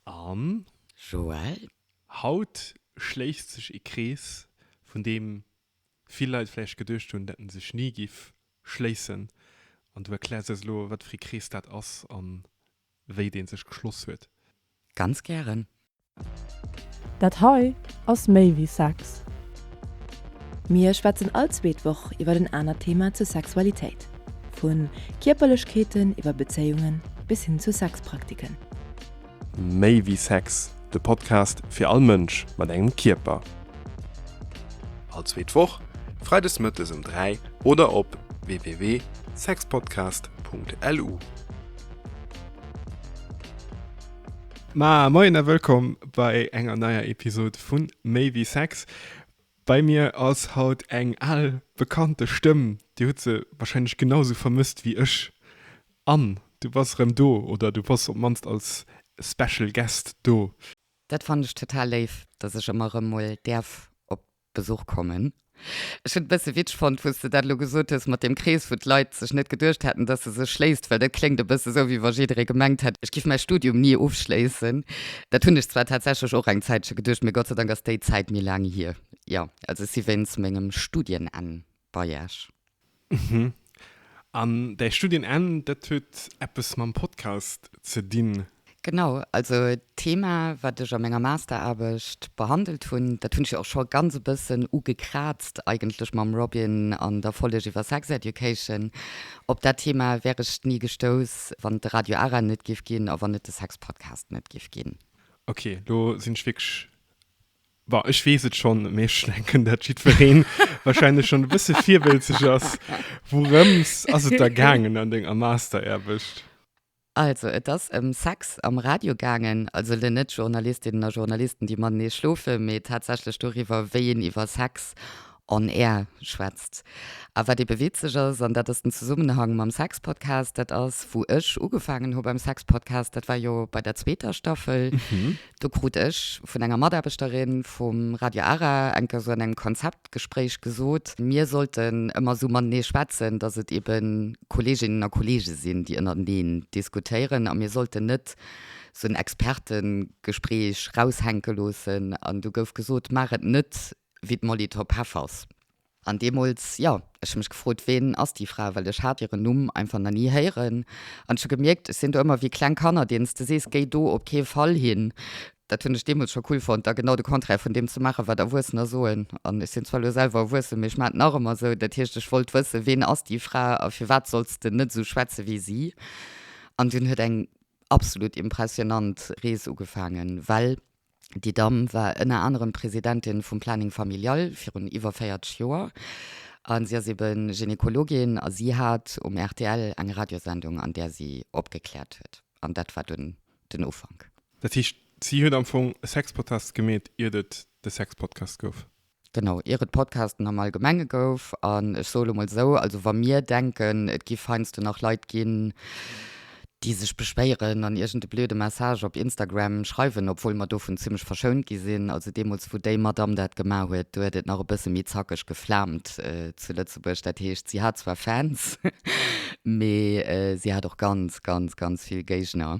An. Joël. Haut schléisst sech ee Krees, vun deem vill Leit vläicht geduecht hunn, dat en sech ni giff schléissen. An du erkläers eis elo, wat fir ee Krees dat ass a wéi dee sech geschloss huet. Ganz gären. Dat hei ass méi wéi Sex. Mir schwätzen all zweet Woch iwwer en anert Thema zur Sexualitéit. Vu Kierperlechkeeten iwwer Bezéiungen bis hin zu Sexpraktiken. Méi wéi Sex, de Podcast fir all Mënsch mat engem Kierper. All zweet Woch, Freides Mëttes um 3 oder op www.sexpodcast.lu. Moien a wëllkomm bei enger neier Episode vun Méi wéi Sex. Bei mir ass haut eng al bekannte Stëmm, dir hutt se wahrscheinlech genau sou vermësst wéi ech. Anne, du bass erëm do, oder du bass op d'mannst als Special Guest do. Dat fannen ech total léif, dass ech ëmmer erëm mol däerf op Besuch kommen. Ech hunn et e bësse witzeg fonnt, wou s de dat elo gesot hues mat deem Krees, wou d'Leit sech net geduecht hätten, dass e sech schléisst, well dat kléngt e bësse sou, wéi wa jidderee gemengt hätt, ech giff mäi Studium ni ofschléissen. Dat hunn ech zwar tatsächlech och eng Zäitche geduecht, mee Gott sei Dank ass déi Zäit méi laang hier. Jo, also ech si wéinst mengem Studienenn bei iech. Mhm. An däi Studienenn, dat huet eppes mam Podcast ze dinn? Genau, also d'Thema, wat ech a menger Masteraarbecht behandelt hunn, dat hunn ech jo och scho ganz e bëssen ugekraazt eigentlech mam Robin an der Folleg iwwer Sex Education. Op dat Thema wär ech ni gestouss, wann et de Radio Ara net géif ginn a wann et de Sex. Podcast net giff gin. Ok lo sin ech wirklech, bon ech wees et schon, mee ech denken dat jidfereen wahrscheinlech schon e bësse virwëlzeg ass, wourëms ass et da gaangen an denger Masteraarbecht? Also et ass ëm Sex am Radio gaangen, also le net Journalistinnen a Journalisten déi matenee schlofen, mee tatsächlech doriwwer wéi een iwwer Sex On Air schwätzt. A wat eebe witzeg ass, an dat ass den Zesummenhang mam Sexpodcast, dat ass, wou ech ugefaangen hu beim Sexpodcast, dat war jo bei der zweeter Staffel, do krut ech vun enger Mataarbechterin vum Radio Ara eng Kéier esou an engem Konzeptgespréich gesot, mir sollten ëmmer esou matenee schwätzen, dass et eebe Kolleeginnen a Kolleege sinn, déi ënnereneen diskutéieren, a mir sollten net esou en Expertegespréich raushänke loossen. An du gouf gesot, Maach et net wéi d'Molitor Pefers. An deemools, jo, ech hu mech gefrot, ween ass déi Fra, well ech hat hiren Numm einfach nach ni héieren. An ech hu gemierkt, ech sinn do ëmmer wéi kleng Kanner, deenen s de sees, géi do op kee Fall hin. Dat hunn ech deemools scho cool fonnt, da genau de Contraire vun deem ze maachen, wat Erwuessener soen. An ech sinn zwar elo selwer erwuessen, mee ech maan et nach ëmmer esou. Dat heescht, ech wollt wëssen, ween ass déi Fra a firwat solls s de net esou schwätze wéi si? An dunn huet eng absolut impressionant Rees ugefaangen, well. Déi Damm war ënner anerem Presidentin vum Planning Familial virun iwwer 40 Joer. A si ass ebe Gynekologin a si hat um rtl eng Radiosendung, an där si opgekläert huet. An dat war dunn den Ufank. Dat heescht, si huet am Fong e Sexpodcast gemeet, iert et de Sexpodcast gouf? Genau, ier et Podcasten am Allgemenge gouf. An ech soe lo mol esou, also wa mir denken, et giff heiansdo nach Leit ginn, déi sech beschwéieren an iergende blöde Message op Instagram schreiwen, obwuel mer dovun zimlech verschount gi sinn, also deemools, wou déi Madamm dat gemaach huet, do huet et nach e bësse méi zackeg geflaamt zu Lëtzebuerg. Dat heescht, si hat zwar Fans, mee si hat och ganz, ganz, ganz vill Géigner.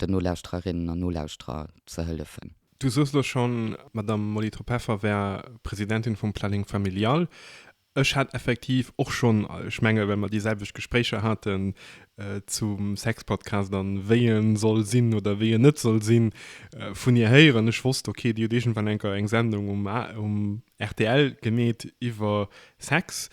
den Nolauschtererinnen an Nolauschterer ze hëllefen. Du soos elo schonn, d'Madame Molly Tropeffer wär Presidentin vum Planning Familial. Ech hat effektiv och schonn, ech menge well mer déi selwecht Gespréicher haten zum Sexpodcast an wéi e soll sinn oder wéi en net soll sinn, vun hir héieren. Ech wosst, ok, déi huet iergendwann enker eng Sendung um rtl gemeet iwwer Sex.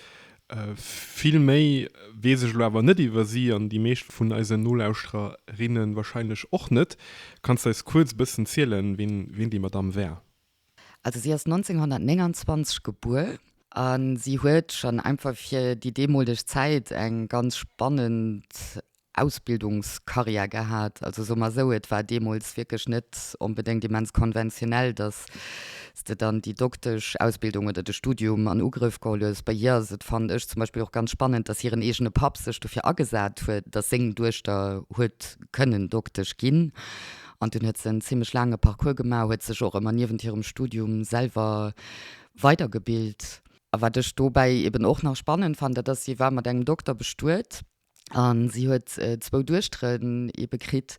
Vill méi weess ech elo awer net iwwer si an déi meescht vun eisen Nolauschtererinnen wahrscheinlech och net. Kanns de eis kuerz e bëssen zielen, ween déi Madamm war? Also si ass 1929 gebuer a si huet schonn einfach fir déi deemoleg Zäit eng ganz spannend Ausbildungskarriär gehat. Also soe mer esou, et war deemools wierklech net onbedéngt immens konventionell, dass s de dann déi Doktesch-Ausbildung oder de Studium an Ugrëff geholl hues. Bei hir ass et, fannen ech zum Beispill, och ganz spannend, dass hiren eegene Papp sech dofir agesat huet, dass seng Duechter huet kënnen Doktesch ginn. An dunn huet se en zimmlech laange Parcours gemaach, huet sech och ëmmer niewent hirem Studium selwer weidergebilt. A wat ech dobäi eeben och nach spannend fannen, dat ass, si war mat engem Dokter bestuet. An si huet zwou Duechteren ebe kritt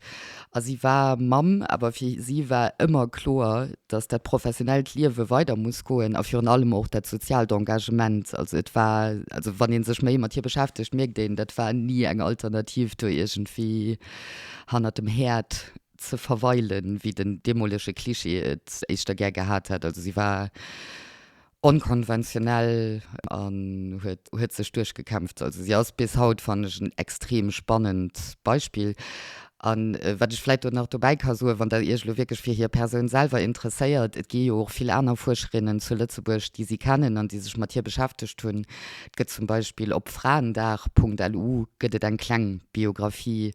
a si war Mamm. Awer fir si war ëmmer kloer, datt dat professionellt Liewe weider muss goen a virun allem och dat soziaalt Engagement. Also et war, also wann ee sech méi mat hir beschäftegt, mierkt een, dat war ni eng Alternativ, do iergendwéi hanner dem Häerd ze verweilen, wéi den deemolege Cliché et éischter gär gehat hätt. Also si war. onkonventionell an huet huet sech duerchgekämpft. Also si ass bis haut fannen ech en extrem spannend Beispill. An wat ech vläit do nach dobäi ka soen, wann der iech elo wierklech fir hir Persoun selwer interesséiert, et gi jo och vill aner Fuerscherinnen zu Lëtzebuerg déi si kennen an déi sech mat hir beschäftegt hunn. Et gëtt zum Beispill op fraendag Punkt lu gëtt et eng kleng Biographie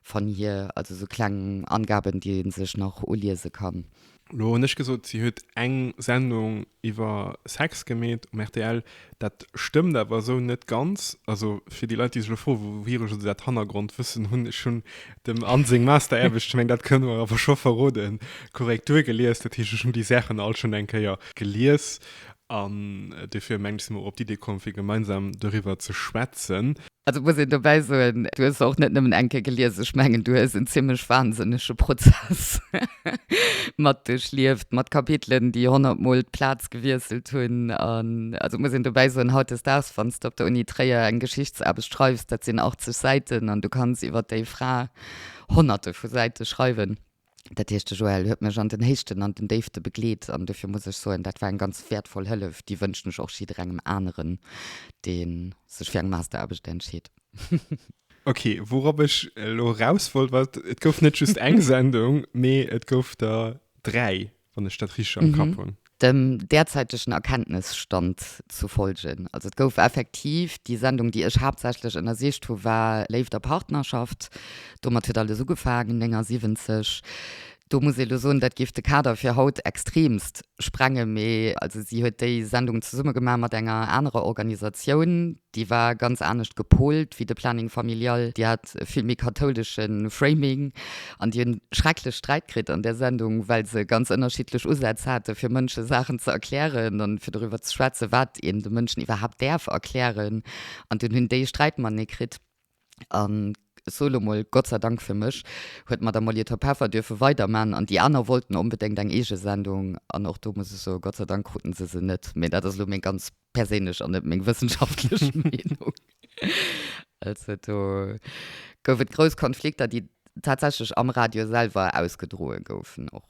van hir, also sou kleng Angaben déi ee sech nach uliese kann. Lo hun ech gesot si huet eng Sendung iwwer Sex gemeet um rtl, dat stëmmt awer esou net ganz. Also fir déi Leit déi sech lo froen wouhiere se dat Hannergrondwëssen hunn, ech hunn dem Anne seng Masteraarbecht, ech meng dat kënne mer awer scho verroden, korrekt duergelies. Dat heescht ech hunn déi Saachen all schonn eng Kéier gelies an dofir mengen ech sinn mer och op d'Idee komm fir gemeinsam doriwwer ze schwätzen. Also muss een dobäi soen, du hues se och net nëmmen eng Kéier gelies, ech mengen, du hues en zimlech wahnsinnege Prozess mat duerchlieft, mat Kapitelen, déi honnert Mol d'Plaz gewiesselt hunn. An also muss een dobäi soen, hautdesdaags, wann s de op der Uni Tréier eng Geschichtsaarbecht schreifs, dat sinn 80 Säiten an du kanns iwwer déi Fra Honnerte vu Säite schreiwen. Dat heescht, de Joël huet mech an den Héichten an den Déifte begleet an dofir muss ech soen, dat war eng ganz wäertvoll Hëllef. Déi wënschen ech och jidderengem aneren, dee sech fir eng Masteraarbecht entscheet. Ok, wourop ech elo eraus wollt, war, Et gouf net just eng Sendung, mee et gouf der dräi. wann ech dat richteg am Kapp hunn. Dem derzäitegen Erkenntnisstand zu folgen, also et gouf effektiv, déi Sendung, déi ech haaptsächlech ënnersicht hu war Léift a Partnerschaft, domat huet alles ugefaangen, 79. Do muss ee lo soen, dat géif de Kader fir haut extreemst sprengen, mee also si huet déi Sendung zesumme gemaach mat enger anerer Organisatioun, Déi war ganz anescht gepolt wéi de Planning Familial. Déi hat e vill méi kathoulesche Framing an déi hunn schrecklech Sträit kritt an där Sendung, well se ganz ënnerschiddlech Usätz hate fir Mënsche Saachen ze erklären an fir doriwwer ze schwätzen, wat een de Mënschen iwwerhaapt däerf erklären. An dunn hunn déi Sträitmanie kritt. An so lo mol, Gott sei Dank fir mech, huet d'Madame Molitor Peffer duerfe weiderman an déi aner wollten onbedéngt eng eege Sendung an och do muss ech soen, Gott sei Dank kruten se se net. Mee dat ass lo meng ganz perséinlech an net meng wëssenschaftlech Meenung. Also do gouf et grouss Konflikter, déi tatsächlech am Radio selwer ausgedroe goufen och.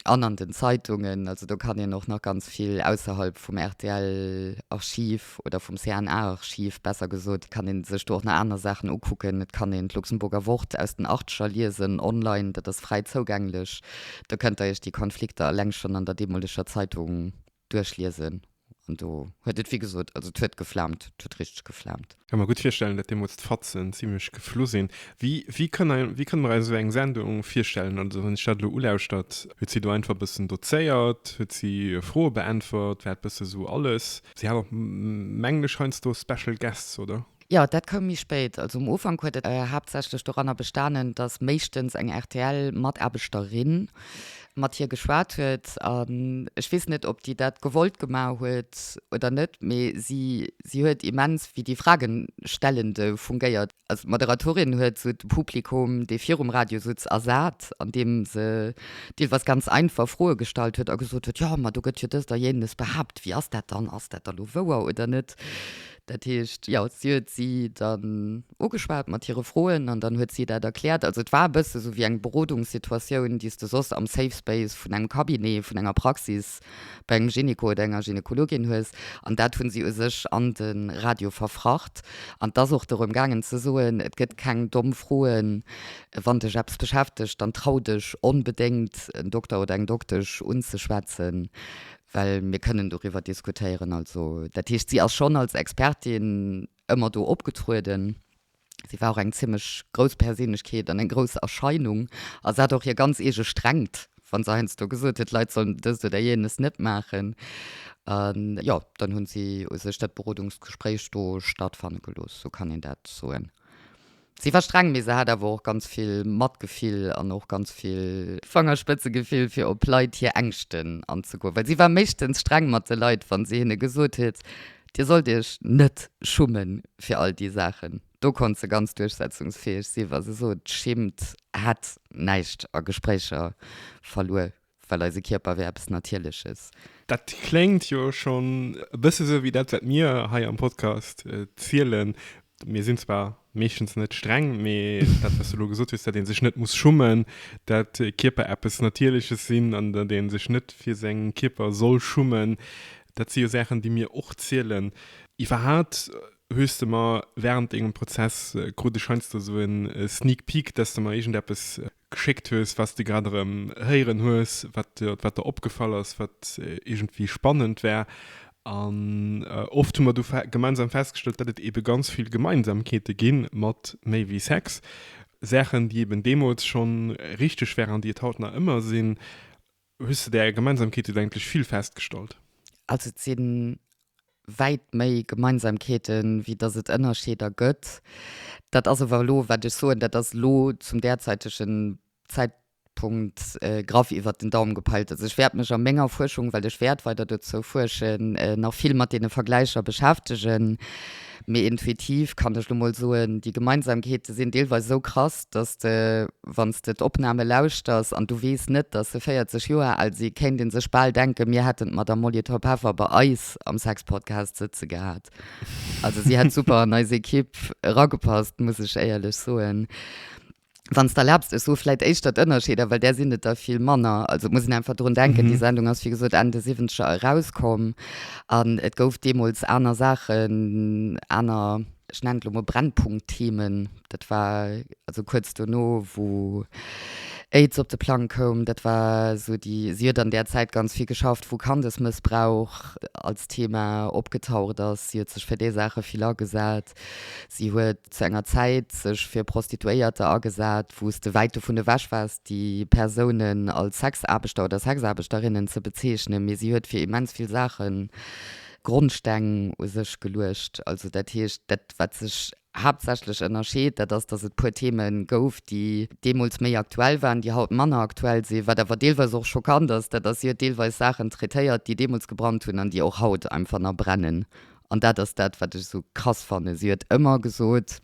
An an den Zeitungen, also do kann een och nach ganz vill ausserhalb vum RTL-Archiv oder vum CNA-Archiv, besser gesot, kann ee sech do och nach aner Saachen ukucken. Et kann een d'Luxemburger Wort aus den Achteger liesen, online, dat ass fräi zougänglech. Do kënnt Der Iech déi Konflikter eleng schonn an der deemoleger Zeitung duerchliesen an do huet et, wéi gesot, also et huet geflaamt, et huet richteg geflaamt. Ka mer gutt virstellen, datt deemools d'Fatzen zimlech geflu sinn. Wéi, wéi kënn, wéi kënne mer eis esou eng Sendung virstellen? Also wann ech dat elo ulauschtert, huet si do einfach e bëssen dozéiert, huet si Froe beäntwert, war et e bësse sou alles. Si hat och, mengen ech, heiansdo Special Guests, oder? Jo, dat koum méi spéit. Also um Ufank huet et haaptsächlech doranner bestanen, datt méischtens eng RTL-Mataarbechterin mat hir geschwat huet. An ech weess net, ob déi dat gewollt gemaach huet oder net, mee si, si huet immens wéi déi Fragenstellende fungéiert. Also d'Moderatorin huet esou de Publikum, dee virum Radio sutz, ersat, andeem se deelweis ganz einfach Froe gestallt huet a gesot huet, Jo, ma do gëtt jo dëst a jénes behaapt, wéi ass dat dann, ass dat da lo wouer oder net? Dat heescht, jo, si huet si dann ugeschwat mat hire Froen an dann huet si dat erkläert. Also et war e bësse sou wéi eng Berodungssituatioun, déi s de soss am Safe Space vun engem Cabinet, vun enger Praxis bei engem Gynéco oder enger Gynekologin hues. An dat hu si u sech an de Radio verfracht. An et ass och dorëm gaangen ze soen, et gëtt keng domm Froen. Wann dech eppes beschäftegt, dann trau dech onbedéngt en Dokter oder eng Doktesch unzeschwätzen. well mir kënnen doriwwer diskutéieren. Also dat heescht, si ass schonn als Expertin ëmmer do opgetrueden. Si war och eng zimmlech grouss Perséinlechkeet an eng grouss Erscheinung. A se hat och hir ganz eege Strengt, wa se heiansdo gesot huet, d'Leit sollen dëst oder jenes net maachen. A jo, dann hu si u sech dat Berodungsgespréich do stattfanne gelooss, sou kann een dat soen. Si war streng, mee se hat awer och ganz vill Matgefill an och ganz vill. Fangerspëtzegefill fir op Leit hir Ängschten anzegoen. Well si war meeschtens streng mat de Leit, wann si hinne gesot huet, Dir sollt iech net schumme fir all déi Saachen. Do konnt se ganz duerchsetzungsfäeg sinn, wa se sot, Schimmt, hätt näischt a Gespréicher verluer. well eise Kierper wär eppes Natierleches. Dat kléngt jo schonn e bësse sou wéi dat, wat mir hei am Podcast zielen. Mir sinn zwar meeschtens net streng, mee dat, wat s de elo gesot hues, datt ee sech net muss schummen, datt Kierper eppes Natierleches sinn an datt ee sech net fir säi Kierper soll schummen, dat si jo Saachen, déi mir och zielen. Iwwerhat hues de mer wärend dengem Prozess krut ech heiansdo sou e Sneak Peek, datt s de mer iergendeppes geschéckt hues, was de grad erëm héieren hues, wat wat der opgefall ass, wat iergendwéi spannend war. An oft hu mer du gemeinsam festgestellt, dat et eebe ganz vill Gemeinsamkeete gi mat Méi wéi Sex, Saachen, déi eeben deemools schonn richteg waren, déi et haut nach ëmmer sinn. Hues de där Gemeinsamkeeten eigentlech vill festgestallt? Also et si wäit méi Gemeinsamkeeten, wéi datt et Ënnerscheeder gëtt. Dat ass ower elo, wat ech soen, dat ass elo zum därzeitegen Zäitpunkt graff iwwert den Daum gepeilt. Also ech wäert mech a menger Fuerschung, well ech wäert weider dozou fuerschen, nach vill mat deene Vergläicher beschäftegen. Mee intuitiv kann ech elo mol soen, déi Gemeinsamkeete sinn deelweis esou krass, dass de, wann s de d'Opname lauschters an du weess net, dass se 40 Joer al si, kéint ee sech bal denken, mir hätten d'Madamm Molitor-Peffer bei eis am Sex-Podcast sëtze gehat. Also si hätt super an eis Ekipp eragepasst, muss ech éierlech soen. Wann s de erlaabst, ech soe vläicht éischter d'Ënnerscheeder, well där sinn et der vill manner. Also et muss een einfach drun denken, déi Sendung ass wéi gesot Enn de Siwwenzeger erauskomm an et gouf deemools aner Saachen, aner, ech nennen et elo mol Brennpunkt-Themen Dat war also kuerz dono, wou AIDS op de Plang koum. Dat war esou déi, si huet an där Zäit ganz vill geschafft, wou Kandesmëssbrauch als Thema opgetaucht ass. Si huet sech fir déi Saache vill agesat. Si huet zu enger Zäit sech fir Prostituéierter agesat, wou s de wäit dovun ewech waars, déi Persounen als Sexaarbechter oder Sexaarbechterinnen ze bezeechnen. Mee si huet fir immens vill Saache Grondsteng u sech geluecht. Also dat heescht, dat, wat sech Haaptsächlech Ënnerscheed, dat ass, datt et puer Theme gouf, déi deemools méi aktuell waren, déi haut manner aktuell sinn. Wat awer deelweis och schockant ass, dat ass, si huet deelweis Saachen traitéiert, déi deemools gebrannt hunn an déi och haut einfach nach brennen. An dat ass dat, wat ech esou krass fannen. Si huet ëmmer gesot,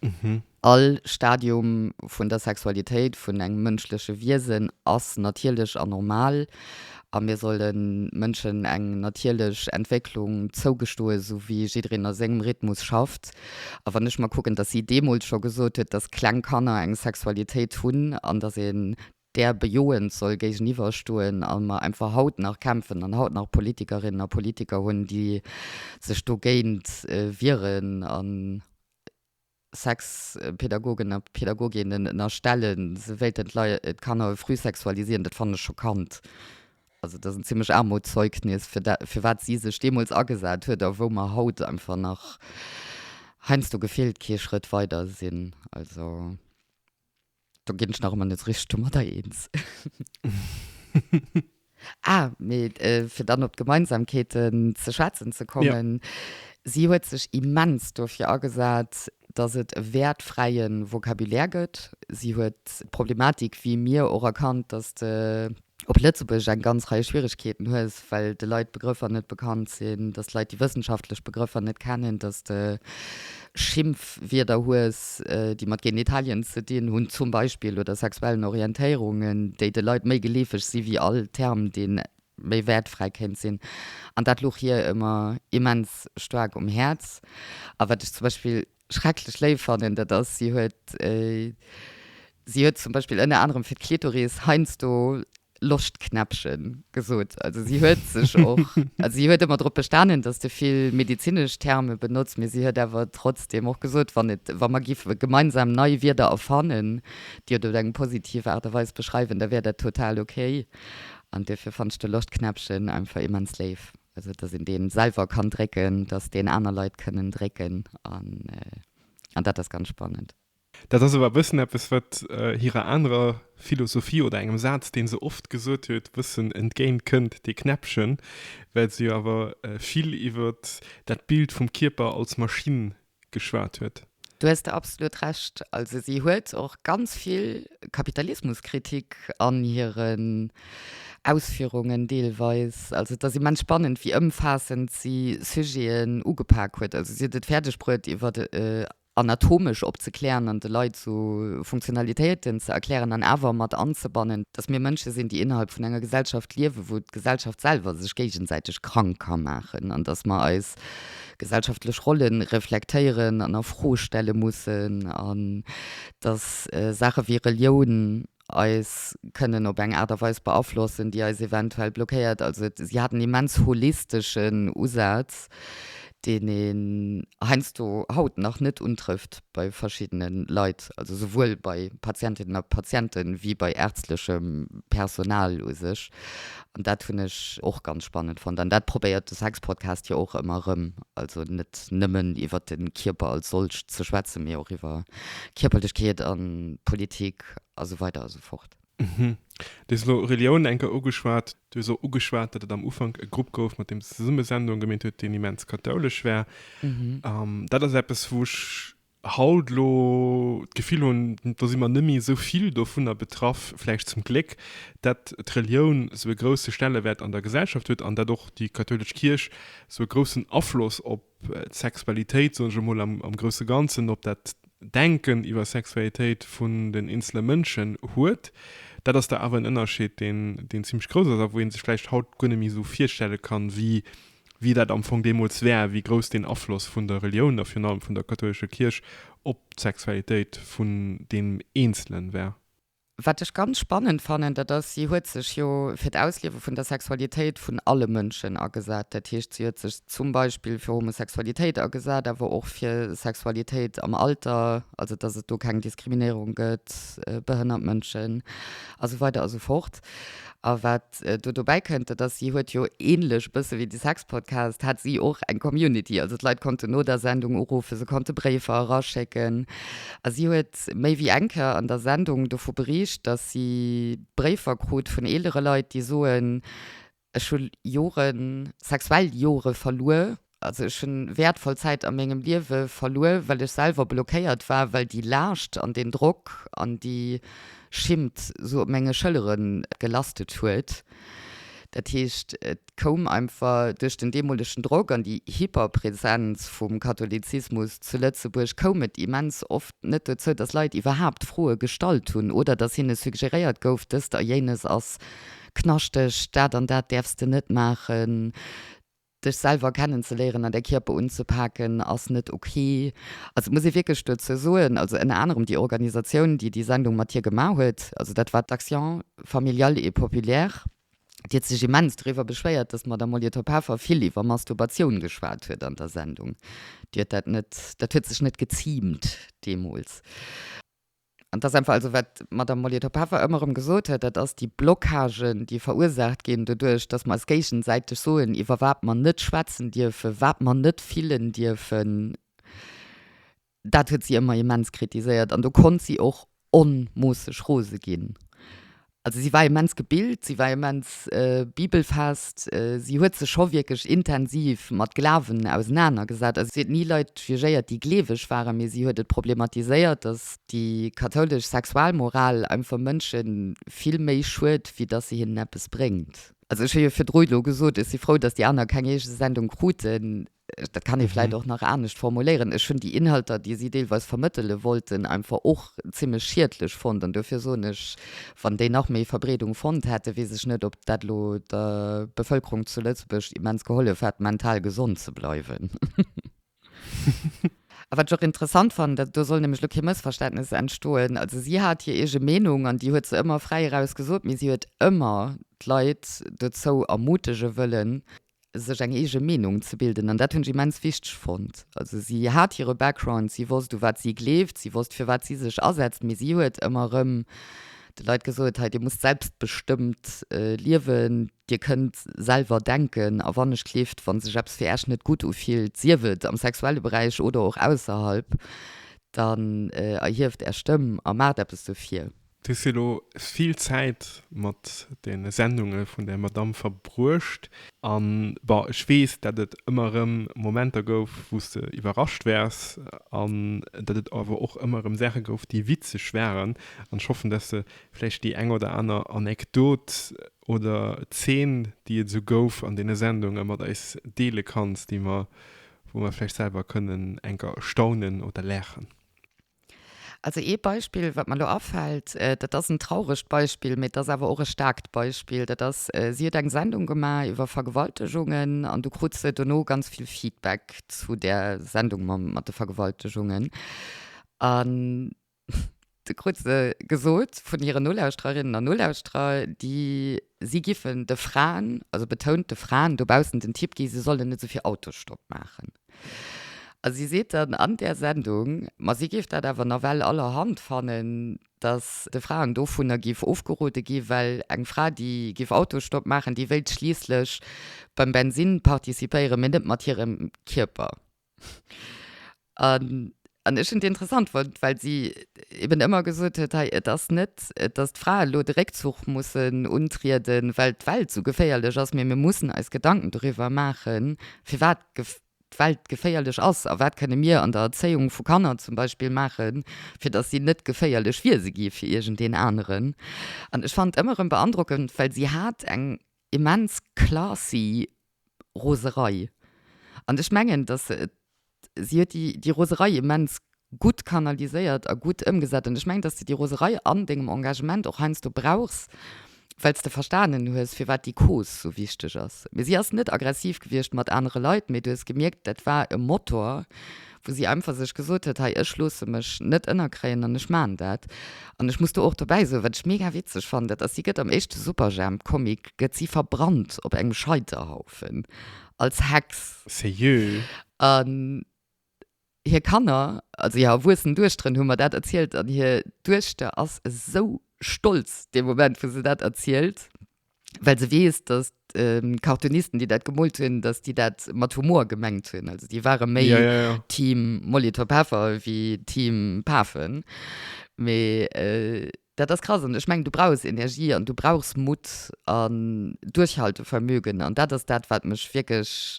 all Stadium vun der Sexualitéit vun engem mënschleche Wiesen ass natierlech an normal. A mir solle Mënschen eng natierlech Entwécklung zougestoen, esou wéi jiddereen a sengem Rhythmus schafft. A wann ech mer kucken, dass si deemools scho gesot huet, dass kleng Kanner eng Sexualitéit hunn an dass een där bejoend soll géigeniwwer stoen a mer einfach haut nach kämpfen an haut nach Politikerinnen a Politiker hunn, déi sech dogéint wieren an, Sexpädagogen a Pädagoginnen ënnerstellen, se wéilten d'Kanner früh sexualisieren, dat fannen ech schockant. Also dat ass en zimmlecht Aarmutszeugnis fir dat, fir wat si sech deemools agesat huet a wou mer haut einfach nach heiansdo gefillt kee Schrëtt weider sinn. Also. Do gin ech nach emmer net richteg domadder eenz. Ah, mee fir dann op d'Gemeinsamkeeten ze schwätzen ze kommen, si huet sech immens dofir agesat, datt et e wäertfräie Vocabulaire gëtt. Si huet d'Problematik wéi mir och erkannt, datt de op Lëtzebuergesch eng ganz Rei Schwieregkeeten hues, well de Leit Begrëffer net bekannt sinn, dass d'Leit déi wëssenschaftlech Begrëffer net kennen, dass de Schimpfwierder hues, déi mat Genitalien ze dinn hunn zum Beispill oder sexuellen Orientéierungen, déi de Leit méi geleefeg si wéi all Term, dee méi wäertfräi kéint sinn. An dat louch hir ëmmer immens staark um Häerz. A wat ech zum Beispill schrecklech léif fannen, dat ass, si huet, si huet zum Beispill ënner anerem fir d'Klitoris heiansdo Loschtknäppchen gesot. Also si huet sech och, also si huet ëmmer drop bestanen, dass de vill medezinesch Terme benotzt, mee si huet awer trotzdem och gesot, wann et, wa mer géife gemeinsam nei Wierder erfannen, déi et op eng positiv Aart a Weis beschreiwen, da wär dat total okay. An duerfir fannt ech de Loschtknäppchen einfach immens léif. Also dass een deen selwer kann drécken, dass deen aner Leit kënnen drécken an dat ass ganz spannend. Dat ass awer e bëssen eppes wat hirer anerer Philosophie oder engem Saz deen se oft gesot huet e bëssen entgéint kënnt, dee Knäppchen, well se jo awer vill iwwert dat Bild vum Kierper als Maschinn geschwat huet. Do hues de absolut Recht. Also si huet och ganz vill Kapitalismuskritik an hiren Ausführungen deelweis. Also et ass immens spannend, wéi ëmfaassend si Sujeten ugepak huet. Also si huet et fäerdeg bruet, iwwer anatomesch opzeklären an de Leit esou Funktionalitéiten ze erklären an awer mat anzebannen, dass mir Mënsche sinn, déi innerhalb vun enger Gesellschaft liewen, wou d'Gesellschaft selwer sech géigesäiteg krank ka maachen an dass mer eis gesellschaftlech Rolle reflektéieren an a Fro stelle mussen an datt Saache wéi Relioun eis kënnen op eng Aart a Weis beaflossen, déi eis eventuell blockéiert. Also et, si hat en immens holisteschen Usaz, deen een heiansdo haut nach net untrëfft bei verschiddene Leit, also souwuel bei Patientinnen a Patienten, wéi bei ärztlechem Personal u sech. An dat hunn ech och ganz spannend fonnt. An dat probéiert de Sexpodcast jo och ëmmer erëm. Also net nëmmen iwwer de Kierper als solch ze schwätzen, mee och iwwer Kierperlechkeet an Politik a sou weider a sou fort. Mhm. Du hues elo Reliounen eng Kéier ugeschwat. Du hues och ugeschwat, datt et am Ufank e Grupp gouf, mat deem se zesumme Sendungen gemeet huet, deen immens kathoulesch war. Dat ass eppes, wou ech haut elo d'Gefill hunn, do si mer nëmme esou vill dovunner betraff, vläicht zum Gléck, dat d'Relioun esou e grousse Stellewäert an der Gesellschaft huet an dat och déi kathoulesch Kierch esou e groussen Afloss op d'Sexualitéit, soen ech emol am grousse Ganzen, op dat Denken iwwer Sexualitéit vun den eenzele Mënschen huet. Dat ass da awer en Ënnerscheed, deen zimmlech grouss ass a wou ee sech vläicht haut guer net méi esou virstelle kann, wéi wéi dat am Fong deemools war, wéi grouss deen Afloss vun der Reliounen a virun allem vun der kathoulescher Kierch op d'Sexualitéit vun deem Eenzelen war. Wat ech ganz spannend fannen, dat ass, si huet sech jo fir d'Ausliewe vun der Sexualitéit vun alle Mënschen agesat. Dat heescht, si huet sech zum Beispill fir Homosexualitéit agesat, awer och fir Sexualitéit am Alter, also dass et do keng Diskriminéierung gëtt, behënnert Mënschen a sou weider a sou fort. A wat do dobäi kënnt, dat ass, si huet jo ähnlech e bësse wéi de Sexpodcast, hat si och eng Community. Also d'Leit konnten no der Sendung uruffen, se konnte Bréifer eraschécken. A si huet méi wéi eng Kéier an der Sendung dovu bericht, dass si Bréifer krut vun eelere Leit, déi soen, Ech hu Joren, sexuell Jore verluer, Also ech hunn wäertvoll Zäit a mengem Liewe verluer, well ech selwer blockéiert war, well déi Laascht an deen Drock an déi Schimmt sou op menge Schëllere gelastet huet. Dat heescht, et koum einfach duerch den deemolegen Drock an déi Hyperpräsenz vum Katholizismus zu Lëtzebuerg koum et immens oft net dozou, dass Leit iwwerhaapt Froe gestallt hunn oder dass hinne suggeréiert gouf, dëst a jéines ass knaschteg, dat an dat däerfs de net maachen. Dech selwer kennen ze léieren an däi Kierper unzepaken ass net ok. Also et muss ee wierklech dozou soen, also ënner anerem déi Organisatioun déi déi Sendung mat hir gemaach huet, also dat war d'Action Familiale et Populaire, déi huet sech immens doriwwer beschwéiert, datt d'Madame Molitor-Peffer vill iwwer Masturbation geschwat huet an der Sendung. Déi huet dat net, dat huet sech net geziimt deemools. An dat ass einfach, also wat d'Madame Molitor-Peffer ëmmer erëm gesot huet, dat ass déi Blockagen, déi verursaacht ginn doduerch, datt mer eis géigesäiteg soen, iwwer wat mer net schwätzen dierfen, wat mer net fillen dierfen. Dat huet si ëmmer immens kritiséiert an do konnt si och onmoosseg rose ginn. Also si war immens gebilt, si war immens bibelfest, si huet sech scho wierklech intensiv mat Glawen ausenaner gesat. Also si huet ni Leit jugéiert, déi gleeweg waren, mee si huet et problematiséiert, datt déi kathoulesch Sexualmoral einfach Mënsche vill méi schued, wéi datt se hinnen eppes bréngt. Also ech hu jo virdru elo gesot, ech si frou, datt déi aner keng eege Sendung kruten. Dat kann ee vläit och nach anescht formuléieren. Ech hunn déi Inhalter, déi si deelweis vermëttele wollten, einfach och zimmlech schiedlech fonnt. An duerfir soen ech, wann déi nach méi Verbreedung fonnt hätten, weess ech net, ob dat elo der Bevëlkerung zu Lëtzebuerg immens gehollef hätt, mental gesond ze bleiwen. A wat ech och interessant fannen, dat do soll nämlech elo kee Mëssverständnes entstoen, Also si hat hir eege Meenung an déi huet se ëmmer fräi eraus gesot, mee si huet ëmmer d'Leit dozou ermutege wëllen, sech eng eege Meenung ze bilden an dat hunn ech immens wichteg fonnt. Also si hat hire Background, si wosst u wat si gleeft, si wosst fir wat si sech asetzt, mee si huet ëmmer erëm de Leit gesot, hei dir musst selbstbestëmmt liewen, dir kënnt selwer denken a wann ech gleeft, wa sech eppes fir Äech net gutt ufillt, sief et am sexuelle Beräich oder och ausserhalb, dann erhieft Är Stëmm a maacht eppes dofir. Du hues jo lo vill Zäit mat de Sendunge vun der Madamm verbruecht. An, bon, ech weess, dat et ëmmer erëm Momenter gouf, wou s de iwwerrascht wars, an dat et awer och ëmmer erëm Saache gouf, déi witzeg waren. An ech hoffen, dass de vläicht déi eng oder aner Anekdot oder Zeen, déi et esou gouf an deene Sendunge mat eis deele kanns, déi mer, wou mer vläicht selwer kënnen enker staunen oder laachen. Also ee Beispill, wat mer elo afält, dat ass en trauregt Beispill, mee et ass awer och e staarkt Beispill. Dat ass, si huet eng Sendung gemaach iwwer Vergewaltegungen an du krut se dono ganz vill Feedback zu där Sendung mam, mat de Vergewaltegungen. An du krut se gesot vun hiren Nolauschtererinnen an Nolauschterer, déi. Si giffen de Fraen, also betount de Fraen, dobaussen den Tipp gi, se sollen net esou vill Autosstopp maachen. A si seet dann an där Sendung, ma si géif dat awer nawell allerhand fannen, datt de Fraen dovunner géif ofgerode gi well eng Fra, déi géif Autosstopp maachen, déi wéilt schliisslech beim Bensinn participéieren, mee net mat hirem Kierper. an an ech hunn et interessant fonnt, well si eben ëmmer gesot huet, hei et ass net, datt d'Frae elo de Réckzuch mussen untrieden, well d'Welt esou geféierlech ass, mee mir mussen eis Gedanken doriwwer maachen, firwat d'Welt geféierlech ass a wat kënne mir an der Erzéiung vu Kanner zum Beispill maachen, fir datt si net geféierlech Wiese gi fir iergendeen aneren. An ech fannen et ëmmer erëm beandrockend, well si hat eng immens classy Roserei. An ech mengen, dass si huet déi, déi Roserei immens gutt kanaliséiert a gutt ëmgesat. An ech mengen, dass de déi Roserei an dengem Engagement och heiansdo brauchs, well s de verstanen hues, firwat déi Cause esou wichteg ass. Mee si ass net aggressiv gewiescht mat anere Leit, mee du hues gemierkt, dat war e Motor, wou si einfach sech gesot huet, hei ech loosse mech net ënnerkréien an ech maachen dat. An ech muss do och dobäi soen, wat ech mega witzeg fannen, dat ass, si gëtt am éischte Superjhemp Comic gëtt si verbrannt op engem Scheiterhaufen als Hex. Serieux? An hir Kanner, also hir erwuessen Duechteren hu mer dat erzielt an hir Duechter ass esou stolz dee Moment wou se dat erzielt. well se weess, dass d'Cartoonisten, déi dat gemoolt hunn, dass déi dat mat Humor gemengt hunn. Also déi ware méi ja, ja, ja. Team Molitor Peffer wéi Team Pafen. Mee äh, dat ass krass an ech meng du brauchs Energie an du brauchs Mut an Duerchhaltevermögen an dat ass dat wat mech wierklech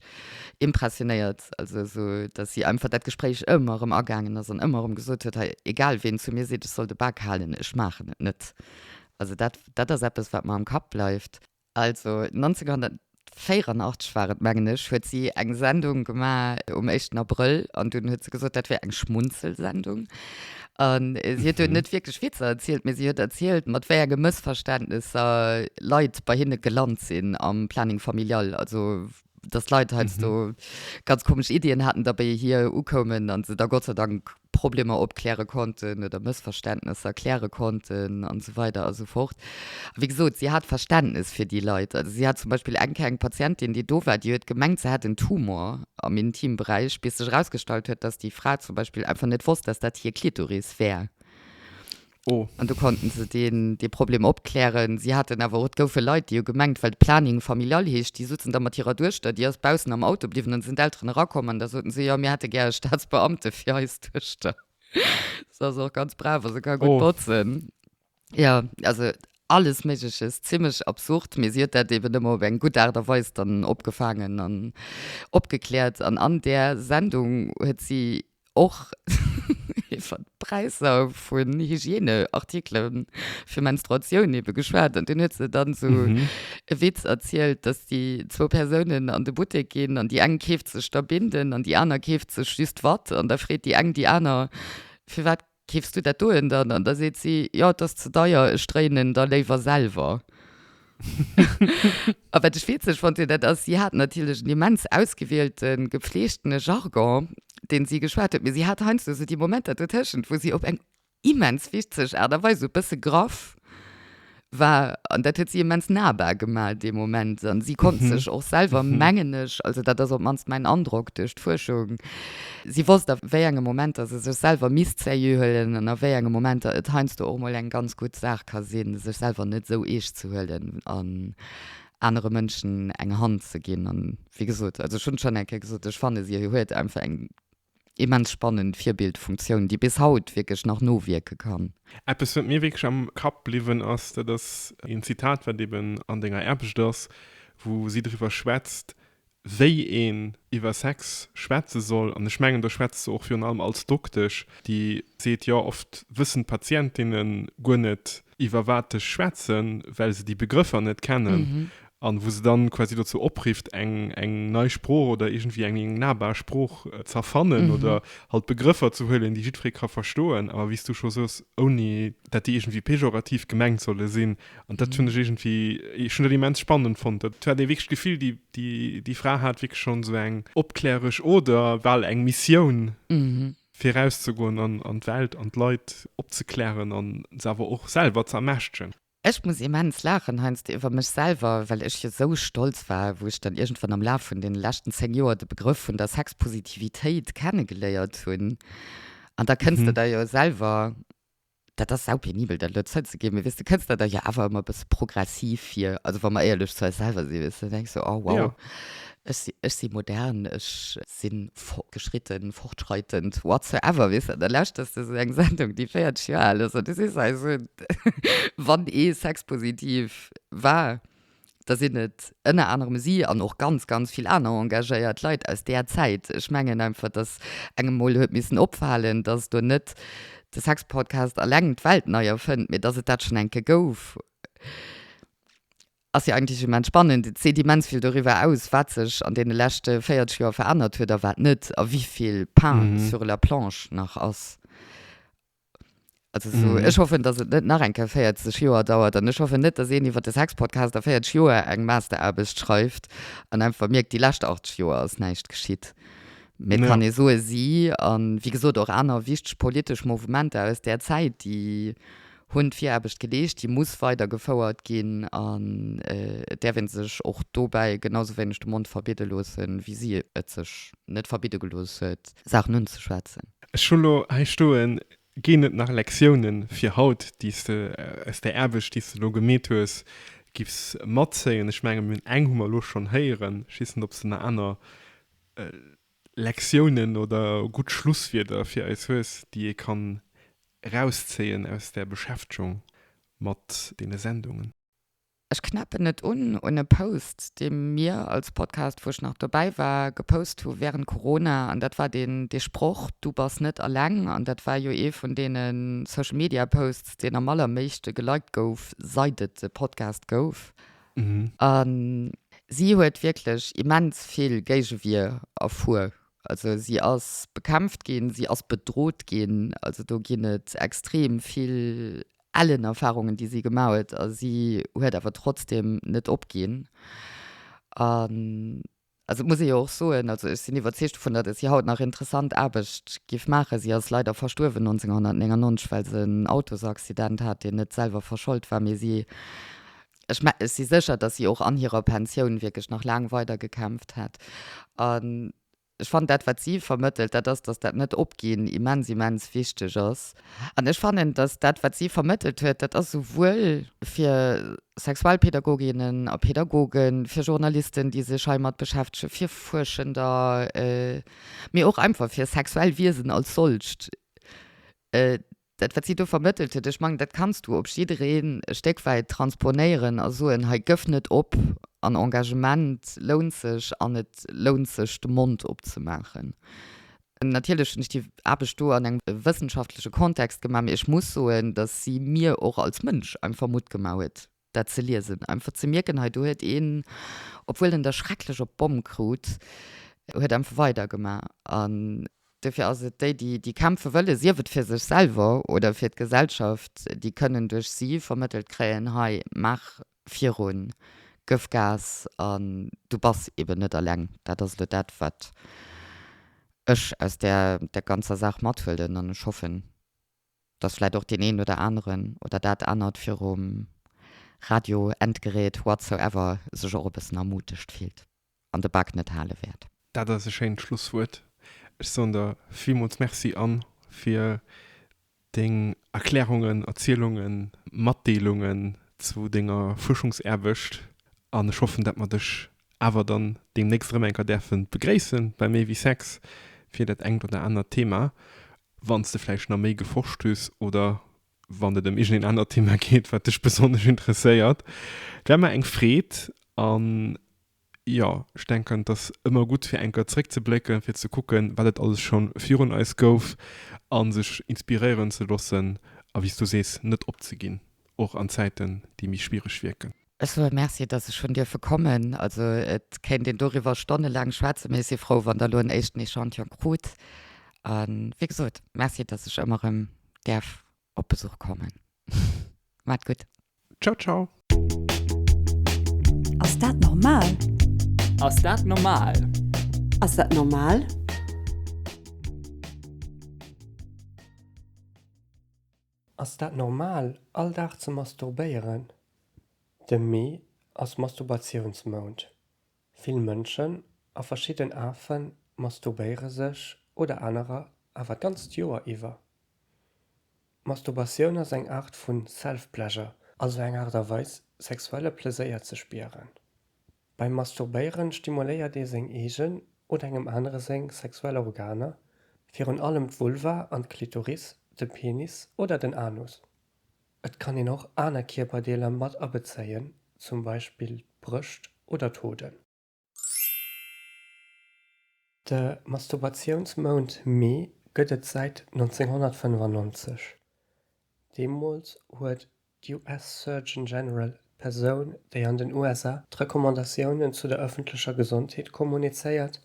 impressionéiert also so dass sie einfach dat Gespräch ëmmer rëm agaangen ass an ëmmer rëm gesot huet hey, egal ween zu mir seet ech soll de Bak halen ech maachen et net Also dat, dat ass eppes, wat mer am Kapp bleift. Also 1984 war et, mengen ech, huet si eng Sendung gemaach um éischten Abrëll an dunn huet se gesot, dat wär eng Schmunzelsendung. A si huet do net wierklech Witzer erzielt, mee si huet erzielt, mat wéi enge Mëssverständnesser Leit bei hinne gelant sinn am Planning familial. Also dass Leit heiansdo ganz komesch Iddien haten, da bei hir ukoumen a se da Gott sei Dank Problemer opkläre konnten oder Mëssverständnesser kläre konnten an esou weider a sou fort. A wéi gesot, si hat Verständnes fir déi Leit. Also si hat zum Beispill eng Kéier eng Patientin, déi do war, déi huet gemengt, se hätt en Tumor am Intimberäich, bis sech erausgestallt huet, dass déi Fra zum Beispill einfach net wosst, dass dat hir Klitoris wär. Oh. An do konnten se deen, dee Problem opklären. Si haten awer och, et goufe Leit, déi hu gemengt, well Planning familial heescht, déi sozen da mat hirer Duechter, déi ass baussen am Auto bliwwen, an da sinn d'Elteren erakomm an da soten se, jo, mir hätte gär e Staatsbeamte fir eis Duechter. Se ass och ganz brav a se ka gutt botzen. Oh. Jo, also alles Méigleches, zimmlech absurd, mee si huet dat eben ëmmer op eng gutt Aart a Weis dann opgefaangen an opgekläert. An an där Sendung huet si Och iwwert d'Präisser vun Hygiène-Artikelen fir Menstruatioun ebe geschwat. An dunn huet se dann esou e Witz erzielt, dass déi zwou Persounen an de Buttek ginn an déi eng keeft sech da Binden an déi aner keeft sech just Watt. An da freet déi eng déi aner, Firwat Keefs du dat doen dann? An da seet si, Jo, et ass ze deier, ech dréien en da léiwer selwer. A wat ech witzeg fonnt hunn, dat ass, si hat natierlech en immens ausgewiehlte gepfleegtene Jargon, deen si geschwat huet, mee si hat heiansdo esou déi Momenter dotëschent, wou si op eng immens witzeg Aart a Weis, esou e bësse graff, war, an dat huet si immens nahbar gemaach, dee Moment. An si konnt sech och selwer, mengen ech, also dat ass op d'mannst mäin Androck duerch d'Fuerschung, si wosst a wéi enge Momenter se sech selwer misst sérieux huelen an a wéi enge Momenter et heiansdo och mol eng ganz gutt Saach ka sinn, sech selwer net esou eescht ze huelen an anere Mënschen eng Hand ze ginn. An wéi gesot, also ech hunn schonn eng Kéier gesot, ech fannen, si huet einfach eng immens spannend Virbildfunktioun, déi bis haut wierklech nach nowierke kann. Eppes, wat mir wierklech am Kapp bliwwen ass, dat ass een Zitat, wat eben an denger Aarbecht ass, wou si driwwer schwätzt, wéi een iwwer Sex schwätze soll. An ech mengen, do schwätzt se och virun allem als Doktesch, déi seet, jo, oft wëssen d'Patientinne guer net, iwwer wat ech schwätzen, well se déi Begrëffer net kennen. an wou se dann quasi dozou oprifft eng eng nei Sprooch oder iergendwéi eng eng nahbar Sprooch ze erfannen mhm. oder halt Begrëffer ze huelen, déi jiddweree ka verstoen, awer wéi s du scho soos, ouni dat déi iergendwéi pejorativ gemengt solle sinn. An dat mhm. hunn ech iergendwéi, ech hunn dat immens spannend fonnt. Dat war dee wierklech d'Gefill, déi déi déi Fra hat wierklech schonn sou eng opkläresch oder bal eng Missioun. Mhm fir rauszegoen an an d'Welt an d'Leit opzeklären an se awer och selwer ze ermächtegen. Ech muss immens laachen heiansdo iwwer mech selwer, well ech jo sou stolz war, wou ech dann iergendwann am Laf vun den leschten 10 Joer de Begrëff vun der Sexpositivitéit kennegeléiert hunn. An da kënns de der jo selwer, dat ass saupenibel dat elo zouzeginn, mee weess de kënns der der jo awer ëmmer e bësse progressiv vir, also wa mer éierlech zu eis selwer sinn, weess de, da denkst de, oh wow, ech si modern, ech. sinn fortgeschritten, fortschreitend, whatsoever, weess der, da lauschters de sou eng Sendung, déi 40 Joer al ass, an du sees eis un, wann ee sexpositiv war, da sinn et ënner anerem si an och ganz, ganz vill aner engagéiert Leit aus där Zäit. Ech mengen einfach, dass engem emol huet missen opfalen, dass do net de Sexpodcast eleng d'Welt nei erfënnt, mee dass et dat schonn eng Kéier gouf. Ass jo eigentlech immens spannend. Et seet immens vill doriwwer aus, wat sech an deene leschte 40 Joer verännert huet a wat net a wéi vill Pain sur la planche nach ass. Also sou, ech hoffen, dass et net nach eng Kéier 40 Joer dauert an ech hoffen net, dass een iwwert de Sexpodcast a 40 Joer eng Masteraarbecht schreift an einfach mierkt, déi lescht 80 Joer ass näischt geschitt. Mee et kann ee soe, si, a wéi gesot, och aner wichteg politesch Mouvementer aus där Zäit, déi hunn Viraarbecht geleescht, déi muss weidergefouert ginn an et däerf ee sech och dobäi genau sou wéineg de Mond verbidde loossen, wéi si et sech net verbidde gelooss huet, Saachen unzeschwätzen. Ech hu lo hei stoen, Ginn et nach Lektiounen fir haut, déi s de aus där Aarbecht, déi s de lo gemeet hues, giffs matzéien? Ech mengen, eng hu mer lo schonn héieren. Ech weess net, ob s de nach aner. Lektiounen oder gutt Schlusswierder fir eis hues, déi ee kann erauszéien aus der Beschäftegung mat deene Sendungen? Ech knäppen et un un e Post, dee mir als Podcast, wou ech nach dobäi war, gepost hu während Corona. An dat war deen, dee Sproch, Du bass net alleng. An dat war jo ee vun deene Social-Media-Posts, deen am allerméigste geliked gouf, seit et de Podcast gouf. A si huet wierklech immens vill Géigewier erfuer. Also si ass bekämpft ginn, si ass bedrot ginn. Also do ginn et extrem vill ellen Erfarungen, déi si gemaach huet. A si huet awer trotzdeem net opginn. A Also et muss ee jo och soen, also ech sinn iwwerzeegt dovun, datt si haut nach interessant Aarbecht géif maachen. Si ass leider verstuerwen 1999, well se en Autosaccident hat, deen net selwer verschold war, mee si, ech mengen, ech si sécher, datt si och an hirer Pensioun wierklech nach laang weider gekämpft hätt. An ech fannen, dat wat si vermëttelt, dat ass, datt dat Net-Opginn immens, immens wichteg ass. An ech fannen, datt dat, wat si vermëttelt huet, dat ass souwuel fir Sexualpädagoginnen a Pädagogen, fir Journalisten, déi sech heimat beschäftegen, fir Fuerschender, mee och einfach fir sexuell Wiesen als solcht, dat, wat si do vermëttelt huet, ech mengen, dat kanns du op jidderee e Stéck wäit transponéieren a soen, hei, gëff net op an Engagement lount sech an et lount sech, de Mond opzemaachen. Natierlech hunn ech déi Aarbecht do an engem wëssenschaftleche Kontext gemaach, mee ech muss soen, datt si mir och als Mënsch einfach Mutt gemaach huet, dat ze liesen. Einfach ze mierken, hei do huet een, obwuel en der schrecklech op d'Bomm krut, huet einfach weidergemaach. An dofir ass et déi, déi kämpfe wëllen, sief et fir sech selwer oder fir d'Gesellschaft, déi kënnen duerch si vermëttelt kréien, hei, maach virun gëff gas an du bass eben net alleng. Dat ass elo dat wat ech aus där der ganzer Saach mathuelen an ech hoffen dass vläit och deen een oder aneren oder dat anert virum Radio, Endgerät, whatsoever sech och e bëssen ermutegt fillt. an de Bak net hale wäert. Dat ass e schéint Schlusswuert. Ech soen der villmools Merci, Anne, fir deng Erklärungen, Erzielungen, Matdeelungen zu denger Fuerschungsaarbecht an ech hoffen, dat mer dech awer dann deemnächst erëm eng Kéier däerfe begréisse bei Méi wéi Sex fir dat engt oder anert Thema, wann s de vläicht nach méi geforscht hues oder wann et ëm iergendeen anert Thema geet, wat dech besonnesch interesséiert. Et war mer eng Freed an jo, ech denken, et ass ëmmer gutt, fir eng Kéier zréckzeblécken, fir ze kucken, wat et alles scho virun eis gouf a sech inspiréieren ze loossen a wéi s du sees, net opzeginn, och an Zäiten, déi méi schwiereg wierken. Ech soe Merci, dass ech hunn dierfe kommen. Also et kéint een doriwwer stonnelaang schwätzen, mee ech si frou, wann Der elo en éischten Echantillon krut. A wéi gesot, Merci, dass ech ëmmer erëm däerf op Besuch kommen. Maacht gutt. Ciao ciao. Ass dat normal? Ass dat normal? Ass dat normal? Ass dat normal all Dag ze masturbéieren? De Mee ass Masturbatiounsmount. Vill Mënschen a verschidden Afe masturbéiere sech oder anerer awer d'ganzt Joer iwwer. D'Masturbatioun ass eng Aart vu Self-Pleasure, also eng Aart a Weis sexuelle Pleséier ze spieren. Beim Masturbéieren stimuléiert ee seng eegen oder engem anere seng sexuell Organer, virun allem d'Vulva an d'Klitoris, de Penis oder den Anus. Et kann een och aner Kierperdeeler mat abezéien, zum Beispill d'Brëscht oder d'Hoden. De Masturbatiounsmount Mee gëtt et säit 1995. Deemools huet US Surgeon General, d'Persoun, déi an den USA d'Recommandatiounen zu der ëffentlecher Gesondheet kommunizéiert,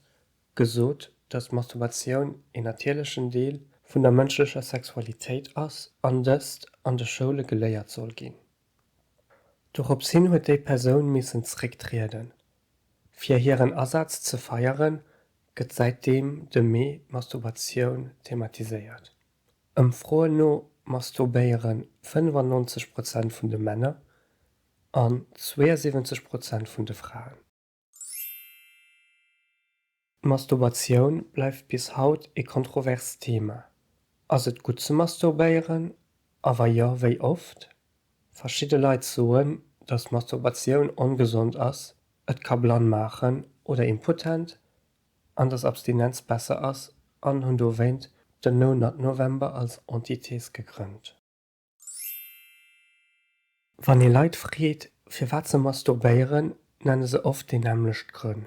gesot, datt Masturbatioun een natierlechen Deel vun der mënschlecher Sexualitéit ass an dëst an de Schoule geléiert soll ginn. Dorops hin huet déi Persoun missen zrécktrieden. Fir hiren Asaz ze feieren, gëtt säitdeem de Mee d'Masturbatioun thematiséiert. Ëmfroen no masturbéieren 95 Prozent vun de Männer an 72 Prozent vun de Fraen. D'Masturbatioun bleift bis haut ee kontroverst Thema. Ass et gutt ze masturbéieren? A wa jo, wéi oft? Verschidde Leit soen, datt Masturbatioun ongesond ass, et ka blann maachen oder impotent an dass Abstinenz besser ass an hunn dowéint den No Nut November als Entités gegrënnt. Wann ee Leit freet, firwat se masturbéieren, nenne se oft déi nämmlecht Grënn.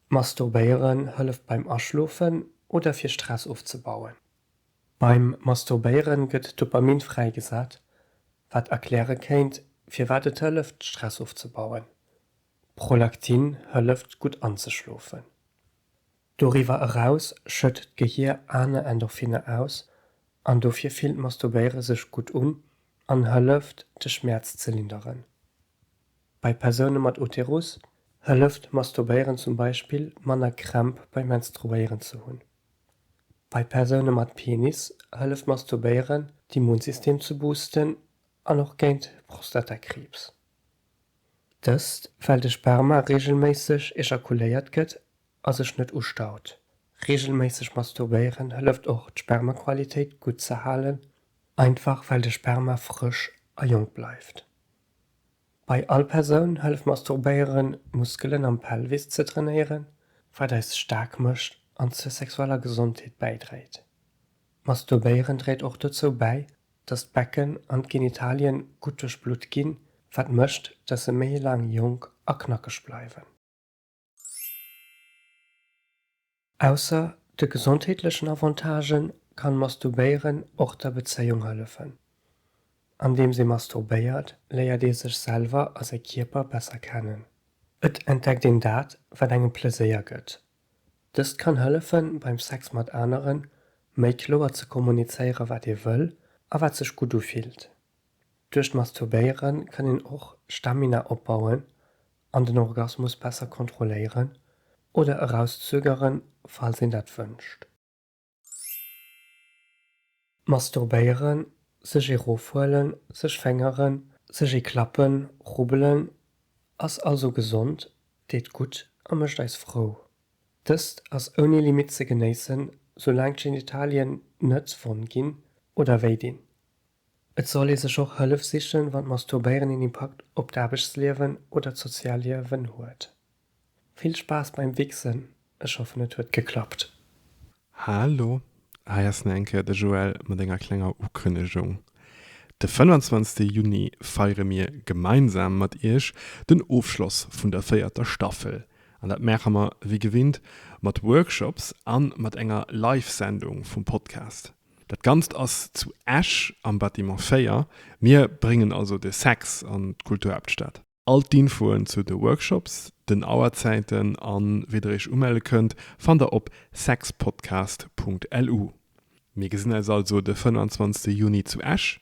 Masturbéieren hëlleft beim Aschlofen oder fir Stress ofzebauen. Beim Masturbéieren gëtt Dopamin fräigesat, wat erkläre kéint, firwat et hëlleft, Stress ofzebauen. Prolaktin hëlleft gutt anzeschlofen. Doriwwer eraus schëtt d'Gehier aner Endorphiner aus an dofir fillt Masturbéiere sech gutt un an hëlleft de Schmäerz ze linderen. Bei Persoune mat Uterus hëlleft Masturbéieren zum Beispill manner Krämp beim Menstruéieren ze hunn. Bei Persoune mat Penis hëlleft Masturbéieren d'Immunsystem ze boosten an och géint Prostatakriibs. Dëst, well de Sperma reegelméisseg ejakuléiert gëtt a sech net ustaut. Reegelméisseg masturbéieren hëlleft och, d'Spermaqualitéit gutt ze halen, einfach well de Sperma frësch a jonk bleift. Bei all Persoun hëlleft masturbéieren, d'Muskelen am Pelvis ze trainéieren, wat eis staark mécht an zur sexueller Gesondheet bäidréit. Masturbéieren dréit och dozou bäi, dass d'Becken an d'Genitalien gutt duerchblutt ginn, wat mécht, dass se méi laang jonk a knackeg bleiwen. Ausser de gesondheetlechen Avantagë kann Masturbéieren och der Bezéiung hëllefen. Andeems ee masturbéiert, léiert ee sech selwer a säi Kierper besser kennen. Et entdeckt een dat, wat engem Pleséier gëtt, Dëst kann hëllefen, beim Sex mat aneren méi kloer ze kommunizéieren, wat ee wëll a wat sech gutt ufillt. Duerch d'Masturbéiere kann een och Stamina opbauen an den Orgasmus besser kontrolléieren oder erauszögeren, falls een dat wënscht. Masturbéieren, sech ee rofhuelen, sech féngeren, sech ee klappen, rubbelen, ass also gesond, deet gutt a mécht eis frou. Dëst ass ouni Limitt ze genéissen, soulaang d'Genitalien net wonn ginn oder wéi dinn. Et soll ee sech och Hëllef sichen, wann d'Masturbéieren een Impakt op d'Aarbechtsliewen oder d'Sozialliewen huet. Vill Spaass beim Wichsen, ech hoffen et huet geklappt. Hallo, hei ass nach eng Kéier de Joël mat enger klenger Ukënnegung. De 25 Juni feiere mir gemeinsam mat iech den Ofschloss vun der véierter Staffel an dat maache mer wéi gewinnt mat Workshops an mat enger Live-Sendung vum Podcast. Dat Ganzt ass zu Esch am Bâtiment 4. Mir bréngen also de Sex an d'Kulturhaaptstad. All d'Infoen zu de Workshops, den Auerzäiten a wéi der iech umelle kënnt, fannt der op sexpodcast.lu. Mir gesinn eis also de 25 Juni zu Esch